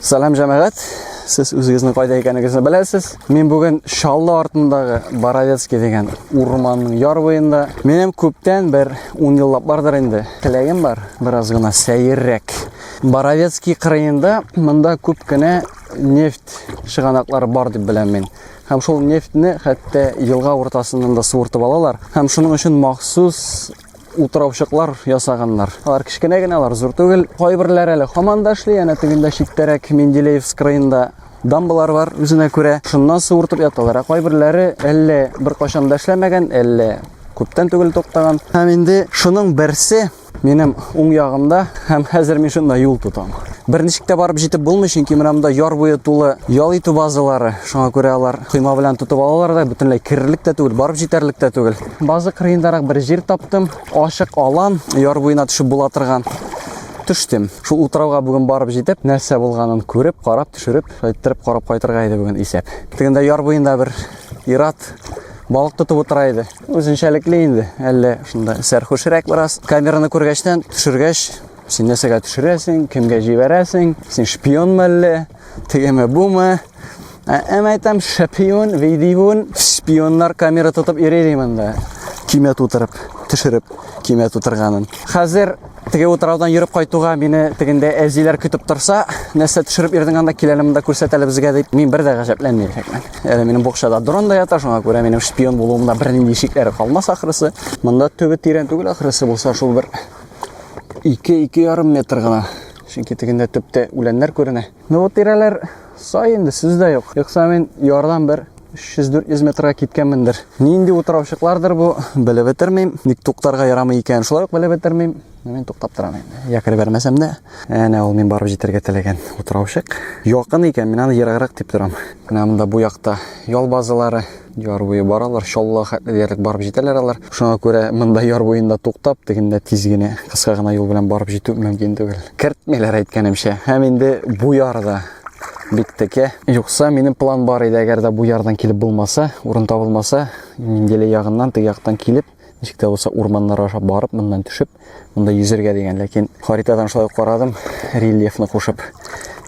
Салам җәмәгать. Сез үзегезнең кайда икәнегезне беләсез. Мин бүген Шаллы артындагы Боровецкий дигән урманның яр буенда. Минем күптән бер 10 еллап бардыр инде. Теләгем бар, бераз гына сәеррәк. Боровецкий кырыенда монда күп кенә нефть шыганаклары бар дип беләм мин. Һәм шул нефтьне хәтта елга уртасыннан да суыртып алалар. Һәм шуның өчен махсус утыраучыклар ясаганнар. Алар кечкенә генә, алар зур түгел. Кайберләре әле һаман да эшли, әнә тегендә читтәрәк Менделеевск краенда дамбалар бар үзенә күрә. Шуннан суыртып яталар. Ә кайберләре әллә беркайчан да эшләмәгән, әллә күптән түгел туктаган. Һәм инде шуның берсе Минем уң ягымда һәм хәзер мин шунда юл тотам. Берничек тә барып җитеп булмый, чөнки менә монда яр буе тулы ял итү базалары. Шуңа күрә алар койма белән тотып алалар да, бөтенләй керерлек тә түгел, барып җитәрлек тә түгел. Базы кырыендарак бер җир таптым. Ашык алан, яр буена төшеп була торган. Төштем. Шул утрауга бүген барып җитеп, нәрсә булганын күреп, карап, төшереп, шайтырып карап кайтырга иде бүген исәп. Тегендә яр буенда бер ират балык тотып утыра иде. Үзенчәлекле инде, әллә шунда сәрхүшрәк бераз. Камераны күргәчтән, төшергәч, син нәрсәгә төшерәсең, кемгә җибәрәсең, син шпион мәлле, тегеме бума. Ә әм әйтәм, шпион, видеон, шпионнар камера тотып йөри ди монда. Кимә тутырып, төшереп, кимә тутырганын. Хәзер Теге утраудан йөреп кайтуга мине тегендә әзиләр көтеп торса, нәрсә төшереп йөрдең анда киләле монда күрсәт әле безгә дип, мин бер дә гаҗәпләнми икәнмен. Әле минем букчада дрон да ята, шуңа күрә минем шпион булуымда бернинди шикләре калмас ахрысы. Монда төбе тирән түгел ахрысы булса, шул бер 2-2,5 метр гына. Чөнки тегендә төптә үләннәр күренә. Ну вот тирәләр сай инде, сүз дә юк. Юкса мин ярдан бер 300-400 метрга киткәнмендер. Нинди утыраучыклардыр бу, белеп бетермим. Ник туктарга ярамый икән, шулай ук белеп бетермим. Мин туктап торам инде. Якыр бәрмәсәм дә, әнә ул мин барып җитәргә теләгән утыраучык. Якын икән, мин аны ераграк дип торам. Менә монда бу якта ял базалары, Яр буе баралар, Чаллыга хәтле диярлек барып җитәләр алар. Шуңа күрә монда яр буенда туктап, тегендә тиз генә, кыска гына юл белән барып җитү мөмкин түгел. Кертмиләр әйткәнемчә. Һәм инде бу ярда бик текә. Юкса, минем план бар иде, әгәр дә бу ярдан килеп булмаса, урын табылмаса, Мингеле ягыннан теге яктан килеп, Ничек тә булса урманнар аша барып, моннан төшеп, монда йөзергә дигән, ләкин харитадан шулай карадым, рельефны кушып,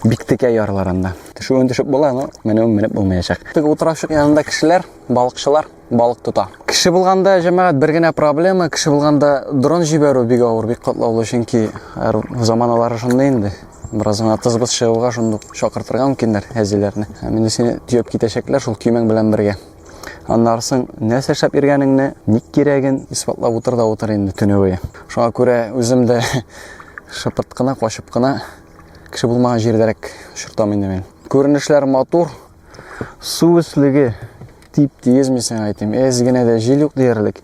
бик текә ярлар анда. Төшүен төшеп була, но менүен менеп булмаячак. Теге утырашык янында кешеләр, балыкчылар балык тота. Кеше булганда, җәмәгать, бер генә проблема, кеше булганда дрон җибәрү бик авыр, бик катлаулы, чөнки заманалары шундый инде бераз гына тызбыз чыгуга шундук чакыртырга мөмкиннәр әзиләрне. Ә менә сине төяп китәчәкләр шул көймәң белән бергә. Аннары соң нәрсә эшләп йөргәнеңне, ник кирәген исбатлап утыр да утыр инде төне буе. Шуңа күрә үзем дә шыпырт кына, качып кына кеше булмаган җирдәрәк очыртам инде мин. Күренешләр матур, су өслеге тип-тигез мин сиңа әйтим. Әз генә дә җил юк диярлек.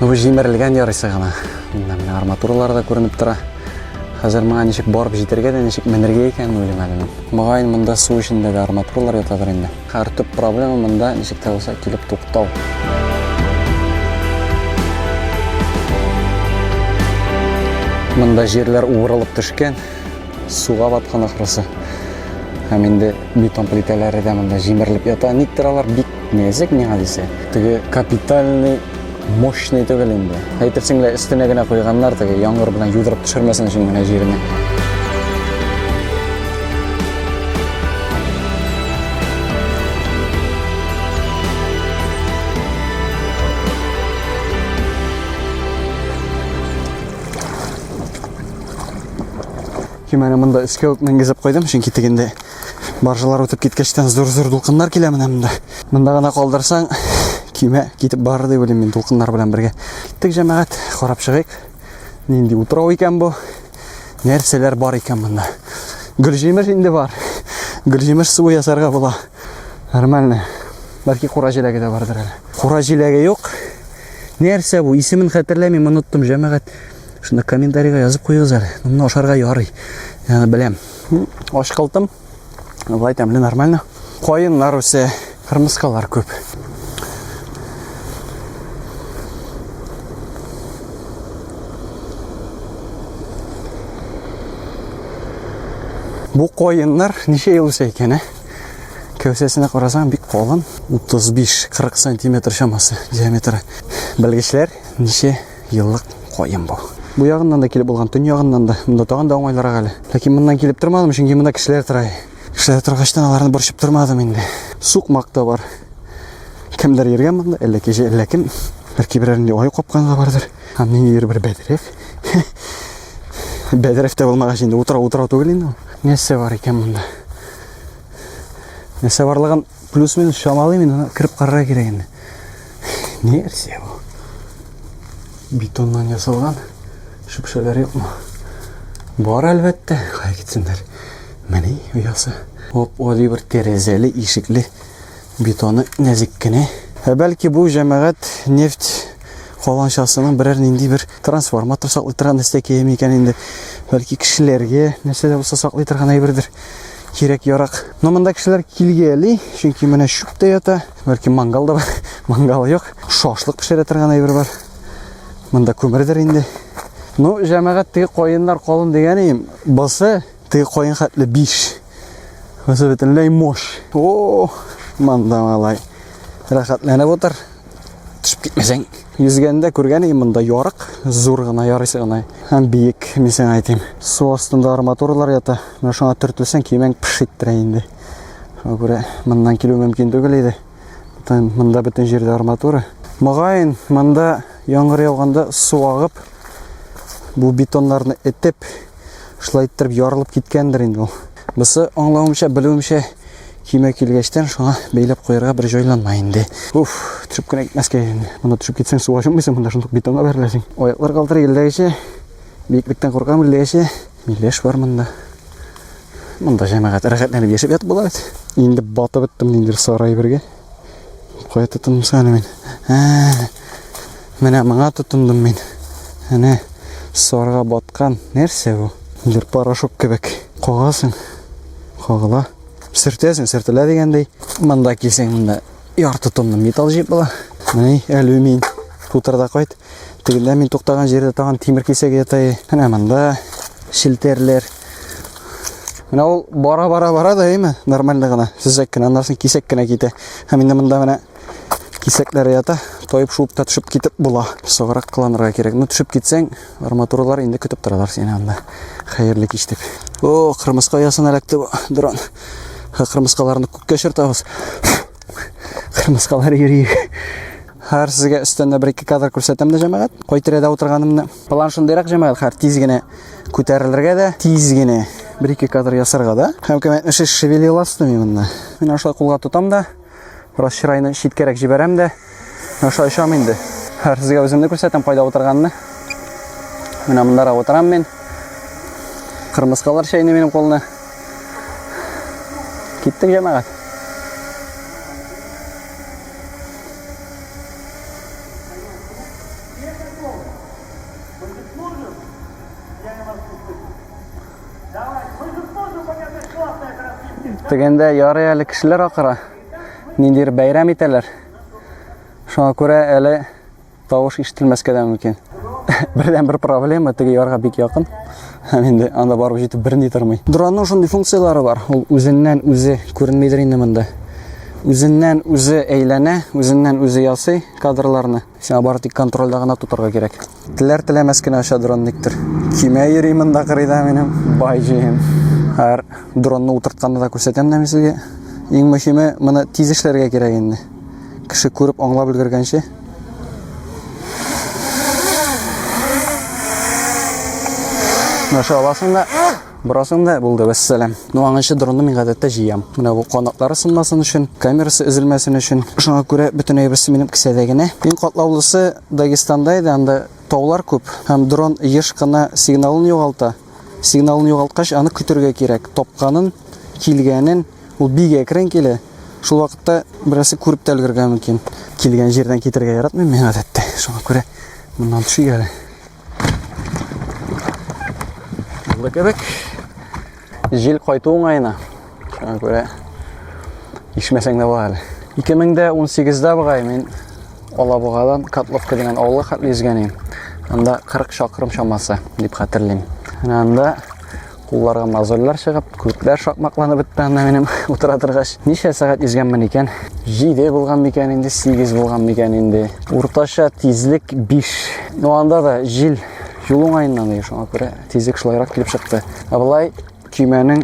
Ну, бу җимерелгән ярыйсы гына. Монда менә арматуралар да күренеп тора. Хәзер моңа ничек барып җитәргә дә, ничек менергә икәнен уйлыйм әле мин. Мөгаен, монда су эчендә дә арматуралар ятадыр инде. Хәр төп проблема монда ничек тә булса килеп туктау. Монда җирләр уырылып төшкән, суга баткан ахрысы. Һәм инде бетон плитәләре дә монда җимерелеп ята. Никтер алар бик Нәзек миңа дисә, теге капитальный мощный түгел инде. Әйтерсең лә өстенә генә куйганнар теге яңгыр белән юдырып төшермәсен өчен генә җиренә. Кимәне монда өскә үк менгезеп куйдым, чөнки тегендә Баржылар үтеп киткәчтән зур-зур дулкыннар килә менә монда. Монда гына калдырсаң, көймә китеп барыр дип уйлыйм мин дулкыннар белән бергә. Тик җәмәгать, карап чыгыйк. Нинди утрау икән бу? Нәрсәләр бар икән монда? Гөлҗимеш инде бар. Гөлҗимеш суы ясарга була. Нормально. Бәлки кура җиләге дә бардыр әле. Кура җиләге юк. Нәрсә бу? Исемен хәтерләмим, оныттым, җәмәгать. Шунда комментарийга язып куегыз әле. Моны ашарга ярый. Яны беләм. Ашкылтым. Былай тәмле, нормально. Каеннар үсә, кырмыскалар күп. Бу каеннар ничә ел үсә икән, ә? Кәүсәсенә карасаң, бик калын, 35-40 сантиметр чамасы диаметры. Белгечләр ничә еллык каен бу. Бу ягыннан да килеп булган, төн ягыннан да. Монда тагын да уңайлырак әле. Ләкин моннан килеп тормадым, чөнки монда кешеләр тора. Кешеләр торгачтан аларны борчып тормадым инде. Сукмак та бар. Кемдер йөргән монда, әллә кеше, әллә кем. Бәлки берәр инде аю капканы да бардыр. Һәм ниндидер бер бәдрәф. Бәдрәф тә булмагач инде утыра утыра түгел инде. Нәрсә бар икән монда? Нәрсә барлыгын Плюс-минус чамалыйм инде, кереп карарга кирәк инде. Ни версия бу? Бетоннан ясалган шөпшәләр юкмы? Бар әлбәттә, кая китсеннәр. Менә оясы. Оп, али бер тәрәзәле, ишекле, бетоны нәзек кенә. Ә бәлки бу җәмәгать нефть каланчасының берәр нинди бер трансформатор саклый торган нәрсә киями икән инде. Бәлки кешеләргә нәрсә дә булса саклый торган әйбердер. кирәк ярак. Но монда кешеләр килгәли, чөнки менә чүп тә ята, бәлки мангал да бар, мангал юк. Шашлык пешерә торган әйбер бар. Монда күмердер инде. Ну, җәмәгать теге каеннар калын дигәнем, басы теге каен хәтле 5. Басы бөтенләй мош. О, монда малай. Рәхәтләнеп утыр. төшеп китмәсәң йөзгәндә күргән идем монда ярык зур гына ярыйсы гына һәм биек мин сиңа әйтим су астында арматуралар ята менә шуңа төртелсәң киемең пыш иттерә инде шуңа күрә моннан килү мөмкин түгел иде бөтен монда бөтен җирдә арматура мөгаен монда яңгыр яуганда су агып бу бетоннарны этеп Шулай иттереп ярылып киткәндер инде ул. Бусы аңлавымча, белүемчә кимә килгәчтән шуңа бәйләп куярга бер җайланма инде. Уф, төшеп кенә китмәскә инде. Монда төшеп китсәң су ачылмыйсың, монда шундук бетонга бәреләсең. Аяклар калтырый гелләгечә. Биеклектән куркам гелләгечә. Миләш бар монда. Монда җәмәгать рәхәтләнеп яшәп ятып була бит. Инде батып беттем инде сарай бергә. Кая тотындым саны мин? Ә, менә моңа тотындым мин. Әнә сарга баткан. Нәрсә бу? Бер порошок кебек. Кагасың. Кагыла. Сөртәсең, сөртелә дигәндәй. Монда килсәң, монда ярты тонна металл җыеп була. Менә алюмин. Тутырда кайт. Тегендә мин туктаган җирдә тагын тимер кисәге ята. Әнә монда шелтәрләр. Менә ул бара-бара-бара да әйме, нормально гына, сүзәк кенә, аннан соң кисәк кенә китә. Һәм инде монда менә кисәкләр ята, тойып шуып та төшеп китеп була. Согырак кыланырга кирәк. Ну төшеп китсәң, арматуралар инде көтеп торалар сине анда. Хәерле кич дип. О, кырмыска ясына эләкте бу дрон. Кырмыскаларны күккә чыртабыз. Кырмыскалар йөри. Хәр сезгә өстәндә бер ике кадр күрсәтәм дә җәмәгать. Кай тирәдә утырганымны. План шундыйрак җәмәгать, хәр тиз генә күтәрелергә дә, тиз генә бер ике кадр ясарга да. Һәм кемәтне шеш шевелила стуми монда. Мин аша кулга тотам да, бераз чырайны читкәрәк җибәрәм дә, аша очам инде. Хәр сезгә үземне күрсәтәм, кайда утырганны. Менә монда утырам мин. Кырмыскалар чәйни минем кулны. Киттек җәмәгать. Дегәндә ярый әле кешеләр акыра. Ниндидер бәйрәм итәләр. Шуңа күрә әле тавыш ишетелмәскә дә мөмкин. Бердән бер проблема теге ярга бик якын. Һәм инде анда барып җитеп берни тормый. Дронның шундый функцияләре бар. Ул үзеннән үзе күренмидер инде монда. Үзеннән үзе әйләнә, үзеннән үзе ясый кадрларны. Сиңа бары тик контрольдә гына тотарга кирәк. Теләр теләмәс кенә оча дрон никтер. Кимә йөри монда кырыйда минем бай җием. Һәр дронны утыртканны да күрсәтәм дә мин сезгә. Иң мөһиме, моны тиз эшләргә кирәк инде. Кеше күреп аңлап өлгергәнче. Наша аласың да, Бурасың да булды, вәссәләм. Ну, аңынчы дронны мин гадәттә җыям. Менә бу канатлары сынмасын өчен, камерасы өзелмәсен өчен. Шуңа күрә бөтен әйберсе минем кесәдә генә. Иң катлаулысы Дагестанда иде, анда таулар күп һәм дрон еш кына сигналын югалта. Сигналын югалткач, аны көтергә кирәк. Тапканын, килгәнен ул бик әкрен килә. Шул вакытта берәрсе күреп тә өлгергән мөмкин. Килгән җирдән китергә яратмыйм мин гадәттә. Шуңа күрә моннан төшик әле. Булды кебек. Җил кайту уңаена. Шуңа күрә ишмәсәң дә була әле. 2018-дә бугай мин Алабугадан Котловка дигән авылга хәтле йөзгән идем. Анда 40 чакрым чамасы дип хәтерлим. Менә анда кулларга мозольләр чыгып, күпләр шакмакланып бетте анда минем утыра торгач. Ничә сәгать йөзгәнмен икән? 7 булган микән инде, 8 булган микән инде. Уртача тизлек 5. Ну анда да җил юл уңаеннан ди, шуңа күрә тизлек шулайрак килеп чыкты. Ә былай Көймәнең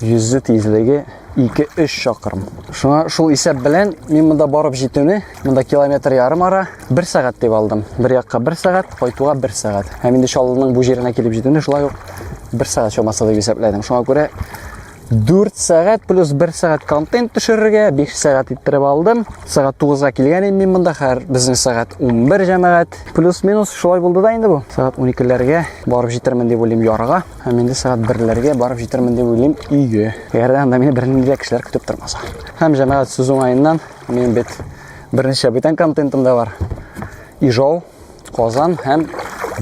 йөзү тизлеге 2-3 чакрым. Шуңа шул исәп белән мин монда барып җитүне, монда километр ярым ара, 1 сәгать дип алдым. Бер якка 1 сәгать, кайтуга 1 сәгать. Һәм инде Чаллының бу җиренә килеп җитүне шулай ук 1 сәгать чамасы дип исәпләдем. Шуңа күрә 4 сәгать плюс 1 сәгать контент төшерергә 5 сәгать иттереп алдым. Сәгать 9-га килгән идем мин монда, хәзер безнең сәгать 11 җәмәгать. Плюс-минус шулай булды да инде бу. Сәгать 12-ләргә барып җитермен дип уйлыйм ярга. Һәм инде сәгать берләргә барып җитермен дип уйлыйм өйгә. Әгәр дә анда мине бернинди дә кешеләр көтеп тормаса. Һәм җәмәгать сүз уңаеннан мин бит берничә бүтән контентым да бар. Ижау, Казан һәм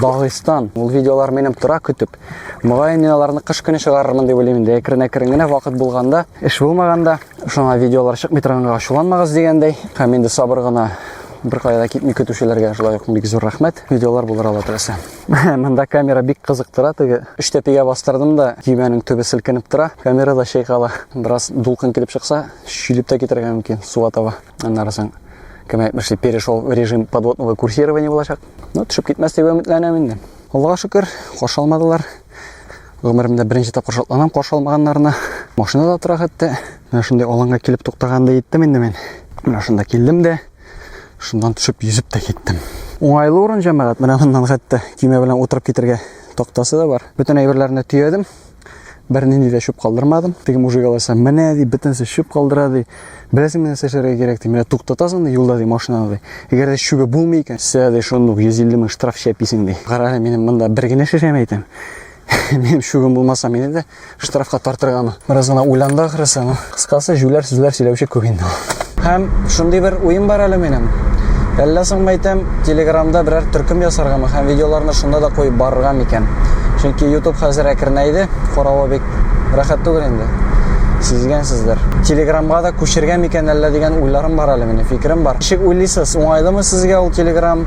Дагыстан. Ул видеолар минем тора көтеп. Мөгаен мин аларны кыш көне чыгарырмын дип уйлыйм инде. Әкрен-әкрен генә вакыт булганда, эш булмаганда, шуңа видеолар чыкмый торганга ачуланмагыз дигәндәй. Һәм инде сабыр гына бер кая да китми көтүчеләргә шулай ук бик зур рәхмәт. Видеолар булыр алла теләсә. Монда камера бик кызыктыра, теге үч тәпигә бастырдым да, көймәнең төбе селкенеп тора, камера да чайкала. Бераз дулкын килеп чыкса, шүлеп тә китергә мөмкин суга таба. Аннары соң кем әйтмешли, перешел в режим подводного курсирования булачак. Ну, төшеп китмәс дип өметләнәм инде. Аллага шөкер, каршы алмадылар. Гомеремдә беренче тапкыр шатланам каршы алмаганнарына. Машинада тора хәтта. Менә шундый аланга килеп туктаганда иттем инде мин. Менә шунда килдем дә. Шуннан төшеп, йөзеп тә киттем. Уңайлы урын җәмәгать, менә моннан хәтта көймә белән утырып китергә тактасы да бар. Бөтен әйберләрне төядем. Бернинди дә чүп калдырмадым. Теге мужик алайса, менә ди, бөтенесе чүп калдыра ди. Беләсең менә сәшәргә кирәк ди. Менә туктатасың ди, юлда ди, машинаны ди. Әгәр дә чүбе булмый икән, сә ди, шуны 150 мең штраф чәписең ди. Карале, минем монда бер генә шешәм әйтәм. Минем чүбем булмаса, мине дә Штрафка тартырган. Бераз гына уйланды ахрысы. Ну, кыскасы, җүләр сүзләр сөйләүче күп инде. Һәм шундый бер уем бар әле минем. Әллә соң мәйтәм, Телеграмда берәр төркем ясаргамы һәм видеоларны шунда да куеп барырга микән? Чөнки YouTube хәзер әкренәйде, каравы бик рәхәт түгел инде. Сизгәнсездер. Телеграмга да күчергән микән әллә дигән уйларым бар әле минем, фикерем бар. Ничек уйлыйсыз, уңайлымы сезгә ул Телеграм?